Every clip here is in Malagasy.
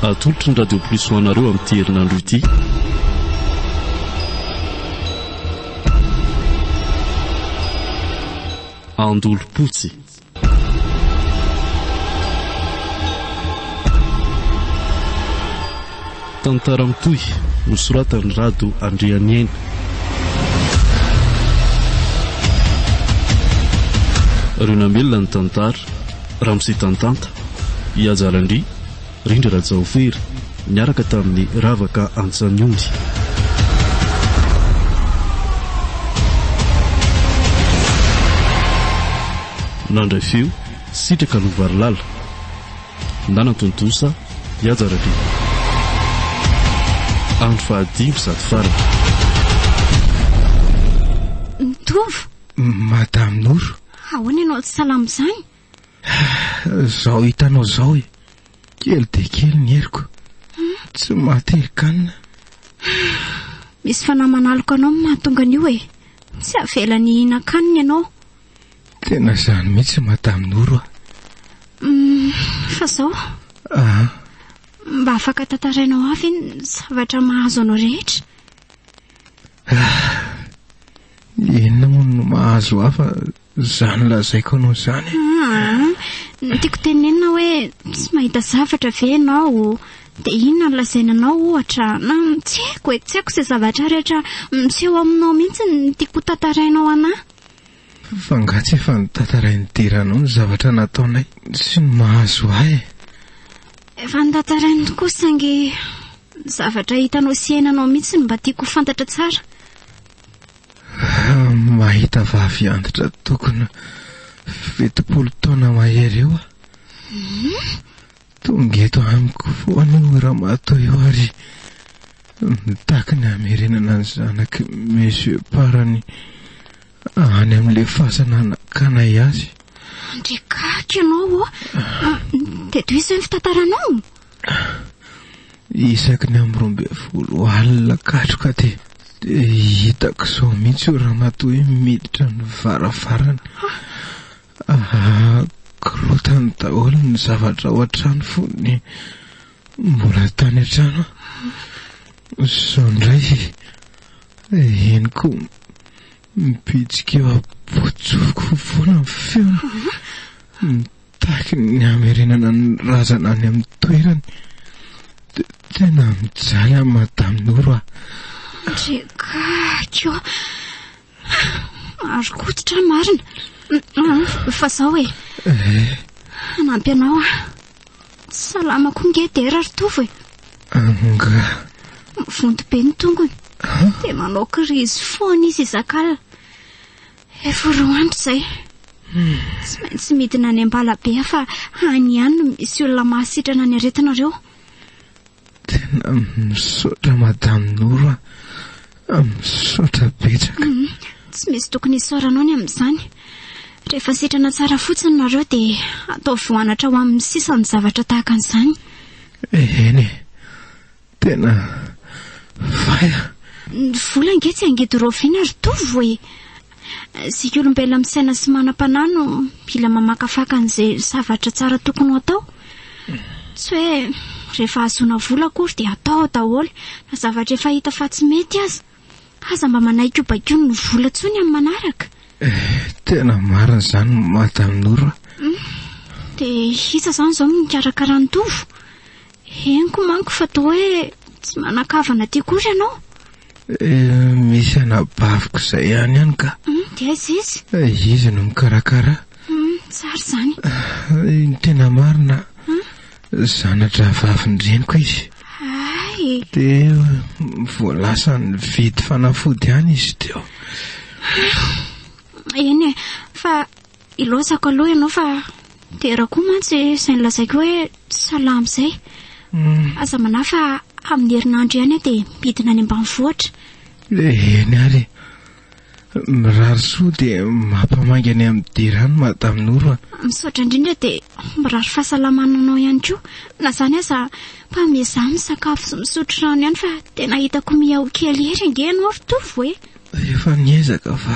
atolotry ny radio plus ho anareo amin'ity herinandro ity andolompotsy Tantara mitohy nosoratan'i Rado Andrianiaina. Reo Namelona ny tantara, Ramose Tantanta, Ihaja Randria, Rindra Rajaofery niaraka tamin'ny Ravaka Antsaniondy. Nandray feo, Sitraka Lovarilala. Nanantontosa, i Haja Rabe. Andro fahadimy sady farany. Ny Tovo! Madame Noro! Ahoana ianao tsy salama izany? Zao hitanao zao e, kely dia kely ny heriko. Tsy maty herin-kanina. Misy fanahy manaloka anao no mahatonga an'io e. Tsy avelany hihinan-kanina ianao. Tena izany mihitsy Madame Noro a. Mm, fa zao. Ah. Mba afaka tantarainao ahy ve ny zavatra mahazo anao rehetra? Ah. Inona moa no mahazo ahy fa izany lazaiko anao izany e? Ny tiako tenenina hoe tsy mahita zavatra ve ianao? Dia inona no lazaina anao ohatra? Tsy haiko e, tsy haiko izay zavatra rehetra miseho aminao mihitsy no tiako ho tantarainao an'ahy. F'angaha tsy efa notantarain'i Dera anao ny zavatra nataonay sy ny mahazo ahy e? Efa notantarainy tokoa saingy ny zavatra hitanao sy iainanao mihitsy no mba tiako ho fantatra tsara. Mahita vavy antitra tokona fitopolo taona mahery eo aho. Tonga eto amiko foana io ramatoa io ary mitaky ny hamerenana ny zanaky Monsieur Parany any amin'ilay fasana hanakanay azy. Andriakaky ianao ô! Dia tohizo ve ny fitantaranao? Isaky ny amin'ny roa ambin'ny folo alina katroka dia hitako izao mihitsy io ramatoa io miditra ny varavarana. Korontana daholo ny zavatra ao an-trano fony mbola tany an-trano aho. Izao indray henoko mibitsika eo am-pontsofiko foana ny feony. Tahaky ny hamerenana ny razana any amin'ny toerany. Tena mijaly an'i Madame Noro aho. Ndry gaga ô! Marin-koditra marina. Fa zao e. Eh. Hanampy anao aho. Salama koa nge dera ry Tovo e. Anga. Mivonto be ny tongony. Dia manao kirizy foana izy izak'alina. Efa roa andro izay. Tsy maintsy midina any Ambalabe aho fa any ihany no misy olona mahasitrana ny aretinareo. Tena misaotra Madame Noro a. Misaotra betsaka. Tsy misy tokony hisaoranao ny amin'izany. Rehefa sitrana tsara fotsiny nareo dia ataovy ho anatra ho amin'ny sisa ny zavatra tahaka an'izany. Eny e. Tena vaya. Ny vola ange tsy angidy raoviana ry Tovo e! Isika olombelona misaina sy manam-panahy no mila mamakafaka an'izay zavatra tsara tokony ho atao. Tsy hoe rehefa hahazoana vola akory dia atao ao daholo na zavatra efa hita fa tsy mety aza. Aza mba manaiky ho baikoin' ny vola intsony amin'ny manaraka. Eh, tena marina izany Madame Noro a. Dia iza izany izao no mikarakara an'i Tovo? Henoko manko fa toa hoe tsy manan-kavana aty kosa ianao. Misy anabaviko izay ihany ihany ka. Dia aiza izy? Izy no mikarakara. Tsara izany. Ny tena marina, zana-drahavavin'ny-dreniko izy. Hay! Dia vao lasa nividy fanafody ihany izy teo. Eny e, fa Ilozako aloha ianao fa dera koa mantsy izay nolazaiko hoe tsy salama izay. Aza manahy fa amin'ny herinandro ihany aho dia midina any ambanivohitra. Eny ary. Mirary soa dia mampamaingana amin'ny dera any Madame Noro a. Misaotra indrindra dia mirary fahasalamana anao ihany koa. Na izany aza mba miezaha misakafo sy misotro rano ihany fa tena hitako mihaoa kely ery ange ianao ry Tovo e. Efa niezaka fa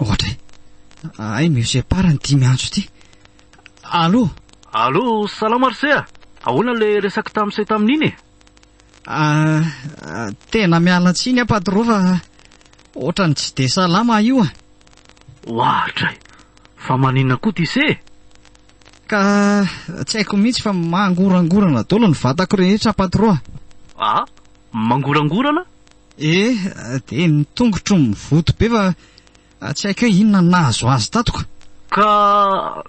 Ohatra e. Ahay Monsieur Par ny dimy antso ity. Allô? Allô, salama ry se a! Ahoana ilay resaka tamin'ny se tamin'iny e? Ah, ah, tena miala tsiny aho patro fa ohatrany tsy dia salama io a. Ohatra e. Fa maninona koa ty se? Ka tsy haiko mihitsy fa mangorangorana dolo ny vatako rehetra patro a! A! Mangorangorana? E! Dia ny tongotro mivoto be fa tsy haiko hoe inona no nahazo azy tato ka! Ka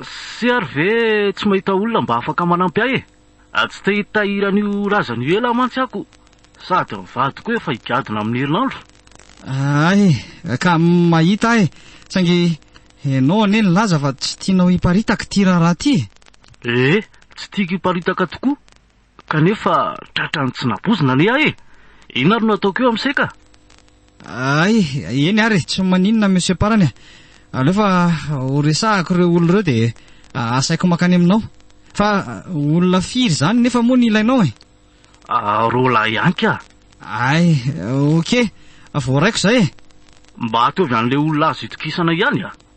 sy ary ve tsy mahita olona mba afaka manampy ahy e? A Tsy te hitahiry an'io razana io ela mantsy ako sady ny vadiko efa higadona amin'ny herinandro. Ay, ka mahita ahy, saingy ianao anie nilaza fa tsy tianao hiparitaka ity raharaha ity e! Ee, tsy tiako hiparitaka tokoa, kanefa tratran'ny tsy nabozina anie aho e! Inona ary no ataoko eo amin'ise ka? Ay, eny ary, tsy maninona Monsieur Parany a. Aleo fa ho resahako ireo olona ireo dia asaiko mankany aminao. Fa olona firy izany nefa moa ny ilainao e? Roa lahy ihany ka. Ay, ok, voaraiko izay e. Mba ataovy an'ilay olona azo itokisana ihany a.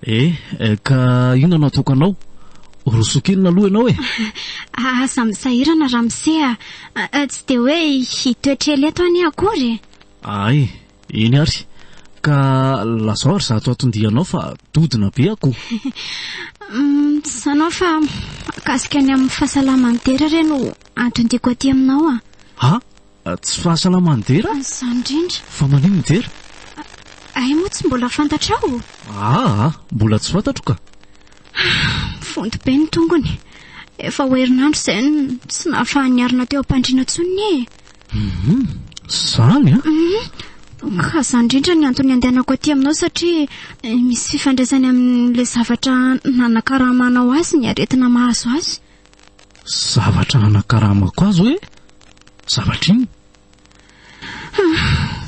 E, ka inona no ataoko anao? Roso kely aloha ianao e! Aza misahirana ramose a! Tsy dia hoe hitoetra ela eto anie akory e! Ay, eny ary! Ka lazao ary izato aton-dianao fa dodona be akoho! Sanao fa mahakasika ny amin'ny fahasalaman'i Dera re no aton-diako aty aminao a! Ha? Tsy fahasalamany dera? Za indrindra. Fa maninona dera? Hay moa tsy mbola fantatrao? Aa, mbola tsy fantatro ka. Vonto be ny tongony. Efa ho herinandro izay no tsy nahafahan'ny niarina teo am-pandriana intsony ny e. Mhm, zany a? Mhm. Ka za indrindra ny antony andehanako aty aminao satria eh, misy fifandraisany amin'ilay zavatra nanakaramanao azy ny aretina mahazo azy. Zavatra hanakaramako azy hoe zavatra inona?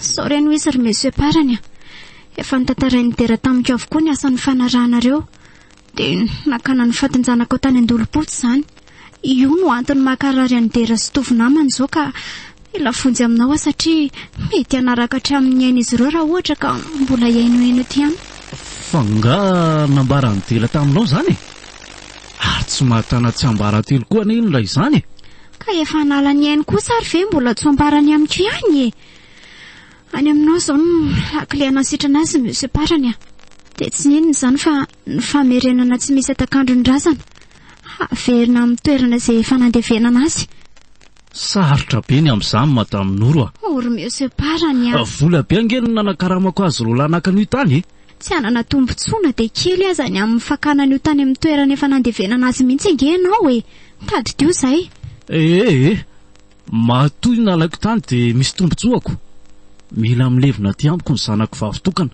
Sao re no izy ry monsieur Parany a. Efa notantarain'i Dera tamiko avokoa ny asan'ny fanarahanareo. Dia nakana ny fatin-janakao tany Andolopotsy izany. Io no antony mahakarary an'i Dera sy Tovo namany izao ka mila vonjy aminao aho satria mety hanaraka hatramin'ny ain'izy ireo raha ohatra ka mbola hihainohaino eto ihany. Fa nga nambaran'i Dera taminao izany e? Ary tsy mahatana tsiambaratelo koa anie ilay izany e! Ka efa hanala ny ainy kosa ary ve mbola tsy ho ambarany amiko ihany e! Any aminao izao no lakile hanasitrana azy ny Monsieur Parany a! Dia tsy inona izany fa ny famerenana tsy misy hatak'andro ny razana, haverina amin'ny toerana izay efa nandevenana azy. Sarotra be ny amin'izany Madame Noro a! O ry Monsieur Parany a! Vola be ange no nanakaramako azy roalahy naka an'io tany e! Tsy hanana tombontsoana dia kely aza ny amin'ny fakana an'io tany amin'ny toerana efa nandevenana azy mihitsy ange ianao e! Tadidio izay! Ee ee! Matoa io nalaiko tany dia misy tombontsoako! Mila milevina aty amiko ny zanako vavy tokana!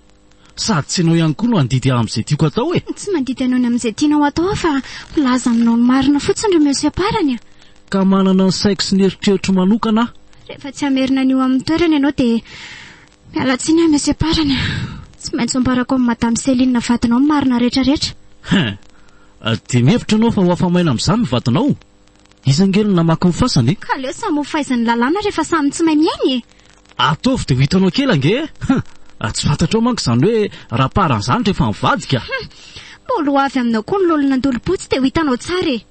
Sady tsy ianao ihany koa no handidy ahy amin'izay tiako atao e! Tsy mandidy anao ny amin'izay tianao atao aho fa milaza aminao ny marina fotsiny ry Monsieur Parany a! Ka manana ny saiko sy ny eritreritro manokana aho! Rehefa tsy hamerina an'io amin'ny toerany ianao dia Miala tsiny aho Monsieur Parany a! Tsy maintsy ambarako amin'i Madame Céline vadinao ny marina rehetrarehetra. Hein! Dia mihevitra ianao fa ho afa-maina amin'izany ny vadinao? Iza ange no namaky ny fasany e? Ka aleo samy ho faizin'ny lalàna rehefa samy tsy mahay miaina e! Ataovy dia ho hitanao kely ange e! Hein! Tsy fantatrao manko izany hoe raparan'izany rehefa mivadika. Hum! Mbola ho avy aminao koa ny lolo nandolo-po tsy dia ho hitanao tsara e!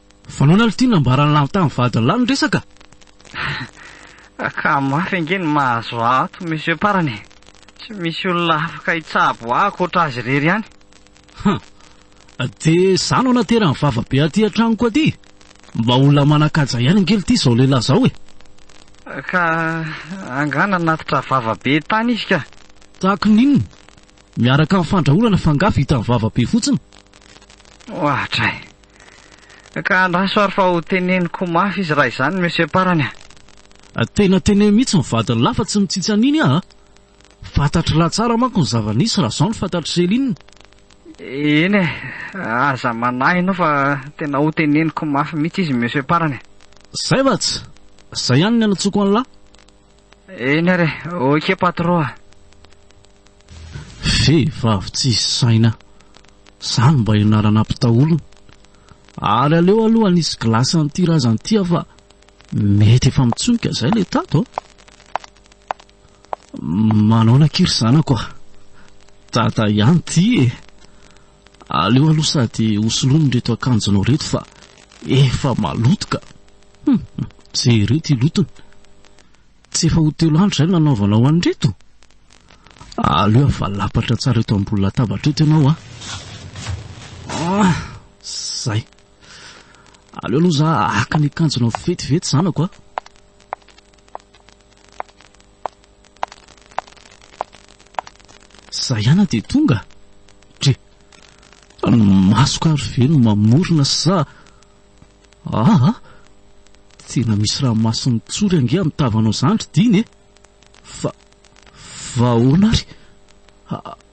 Vanoina aloha ity nambaran'i Lanto tamin'ny vadiny lahy ny resaka a! Ka mafy ange ny mahazo ahy ato monsieur Parany e! Tsy misy olona afaka hitsabo ahy ankoatra azy irery ihany. Hum! Dia izaho no naterany vava be aty an-tranoko aty? Mba olona manan-kaja ihany ange ity izao lehilahy izao e! Ka angaha nanatitra vava be tany izy ka? Tahaka ny inona? Miaraka amin'ny fandrahonana fa angaha vitan'ny vava be fotsiny? Ohatra e! Ka andraso ary fa ho teneniko mafy izy raha izany Monsieur Parany a! Tena teneno mihitsy ny vadiny lahy fa tsy mitsitsy an'iny aho a! Fantatry lahy tsara manko ny zava-nisy raha izao no fantatr'i Céline. Eny e! Aza manahy ianao fa tena ho teneniko mafy mihitsy izy Monsieur Parany a! Zay va tsy? Zay ihany ny anatsoako an'lah! Eny ary e! Ok patro a! Vehivavy tsisy saina! Zany mba ianarana mpitao olona? Ary aleo aloha anisy glace an'ity razana ity aho fa mety efa mitsonika zay le tato a! Manaona akia ry zanako a! Tata ihany ity e! Aleo aloha sady hosoloany reto akanjonao reto fa efa maloto ka! Hum, jereo ity lotony! Tsy efa ho telo andro izay no nanaovanao an'ireto? Aleo avalapatra tsara eto ambony latabatra eto ianao a! Ah, zay! Aleo aloha za haka ny akanjonao vetivety zanako a! Za ihana dia tonga? Dre, ny masoko ary ve no mamorona sa aa? Tena misy ranomason'ny tsory ange amin'ny tavanao zany ry Dina e! Fa, fa ahoana ary?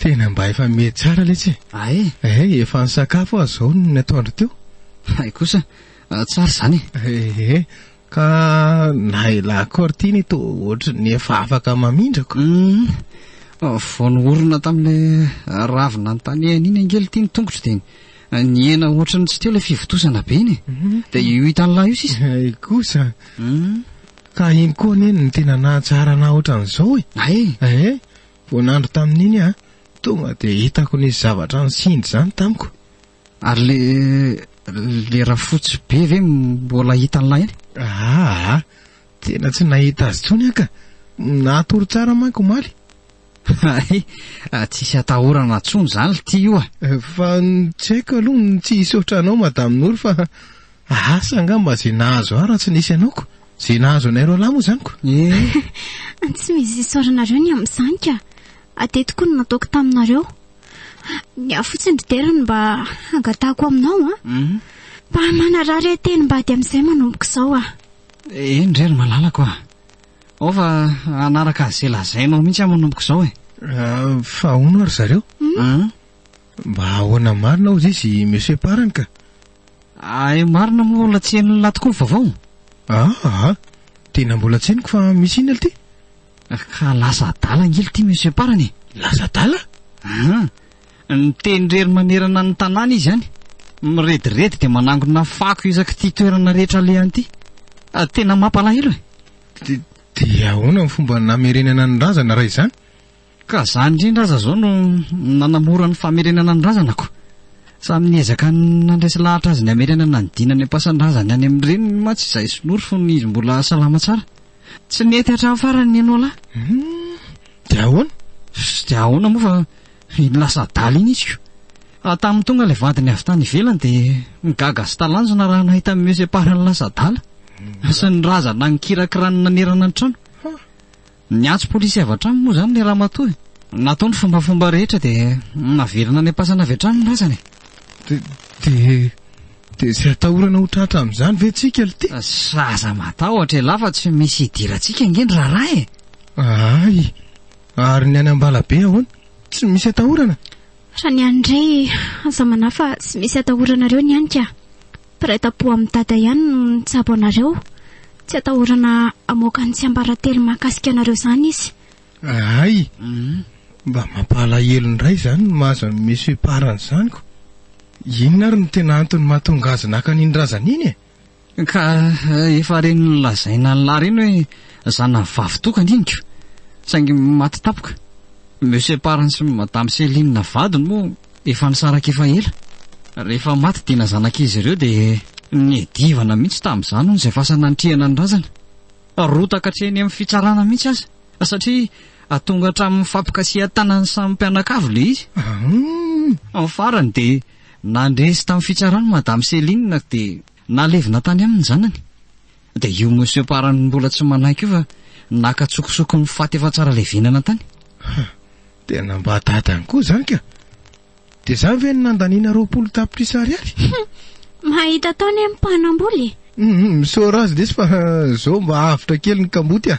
Tena mba efa miha tsara letsy e! Ah eh? Eh, efa nisakafo aho izao ny atoandro teo. Hay kosa, tsara izany e! Eh eh, ka na i La Cortine toa ohatry ny efa afaka mamindrako. Hum, vao nohorina tamin'ilay ravy nanontaniany iny ange ity ny tongotro dia nihena ohatry ny tsy teo ilay fivotosana be iny e! Dia io hitan'ny lahy io sisa. Hay kosa, ka iny koa anie no tena nahatsara anà ohatran'izao e! Hay! Eh eh! Vao nandry tamin'iny aho, tonga dia hitako nisy zavatra nisindry izany tamiko. Ary le le rafotsy be ve mbola hitan'ilay iny? Aa, tena tsy nahita azy intsony aho ka. Natory tsara manko omaly. Hay, tsisy atahorana intsony izany lty io a! Fa tsy haiko aloha ny tsy hisaotra anao Madame Nour fa Asa angamba izay nahazo ahy raha tsy nisy anao ko! Izay nahazo anay roalahy moa izany ko! Eh! Tsy misy isaoranareo ny amin'izany ka! Ade tokoa no nataoko taminareo. Ny ahy fotsiny ry Dera no mba hangatahako aminao an! Hum! Mba manarary ahy teny mba ady amin'izay manomboka izao an! Eny re ry malalako an! Ao fa hanaraka an'izay lazainao mihitsy aho manomboka izao e! Ah, fa ahoana ry zareo? Hum! Mba ahoana marina hozy izy Monsieur Parany ka! Hay marina moa olona tsy henon'ny lahy tokoa ny vaovao? Aa! Tena mbola tsy henoko fa misy inona ity? Ka lasa adala angely ity Monsieur Parany e! Lasa adala? Aa! Miteny irery manerana ny tanàna izy any. Mirediredy dia manangona fako isaky ity toerana rehetra alehany ity. Tena mampalahelo e! Dia ahoana ny fomba namerenana ny razana raha izany? Ka za indrindra aza zao no nanamora ny famerenana ny razana ko! Samy niezaka nandresy lahatra azy ny hamerana nanodina ny ampasan-drazany any amin'ny reniny mantsy izahay sinory fony izy mbola salama tsara! Tsy nety hatramin'ny farany ny Enola! Dia ahoana? Dia ahoana moa fa iny lasa adala iny izy ko! Fa tamin'ny tonga ilay vadiny avy tany ivelany dia nigaga sy talanjona raha nahita ny mieux-séparent lasa adala sy ny razana nikirakirany nanerana ny trano! Niantso polisy avy hatrany moa izany ilay ramatoa e! Natao ny fombafomba rehetra dia naverina any am-pasana avy hatrany ny razana e! Dia, dia izay atahorana ho tratra amin'izany ve tsika lty? Aza matahotra elah fa tsy misy hidirantsika ange ny raharaha e! Ahay! Ary ny any Ambalabe ahoana? Tsy misy atahorana? Raha ny ahy indray, aza manahy fa tsy misy atahoranareo ny any ka! Mpiray tampo amin'i Dada ihany no nitsabo anareo. Tsy atahorana hamoaka ny tsiambaratelo mahakasika anareo izany izy. Hay! Mba mampalahelo indray izany ny mahazo an'i Monsieur Part an'izany ko! Inona ary no tena antony mahatonga azy naka an'iny razana iny e? Ka efa reny nolazaina an'lah reny hoe zanany vavy tokana iny ko! Saingy maty tampoka! Monsieur Part sy Madame Céline vadiny moa. Efa nisaraka efa ela. Rehefa maty Dina zanak'izy ireo dia niadivana mihitsy tamin'izany hono izay fasana nitrihana ny razana. Rotaka hatreny amin'ny fitsarana mihitsy aza satria tonga hatramin'ny fampikasihan-tanan'ny samy mpianakavy ilay izy. Amin'ny farany dia nandresy tamin'ny fitsarana Madame Céline dia nalevina tany aminy ny zanany. Dia io monsieur Parany mbola tsy manaiky io fa naka tsokosoko ny faty efa tsara levenana tany. Ha, tena mba dadany koa izany ka. Dia izany ve no nandaniana roapolo tapitrisa ariary? Hum, mahita atao anie ny mpanambola e. Hum, misaora azy lesy fa izao mba avotra kely ny kamboty a.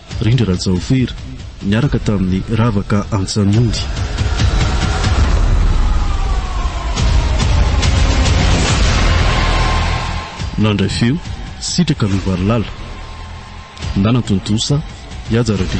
Rindra Rajaofera niaraka tamin'i Ravaka Antsanondy. Nandray feo, Sitraka Lovarilala. Nanan-tontosa, i Haja Rabe.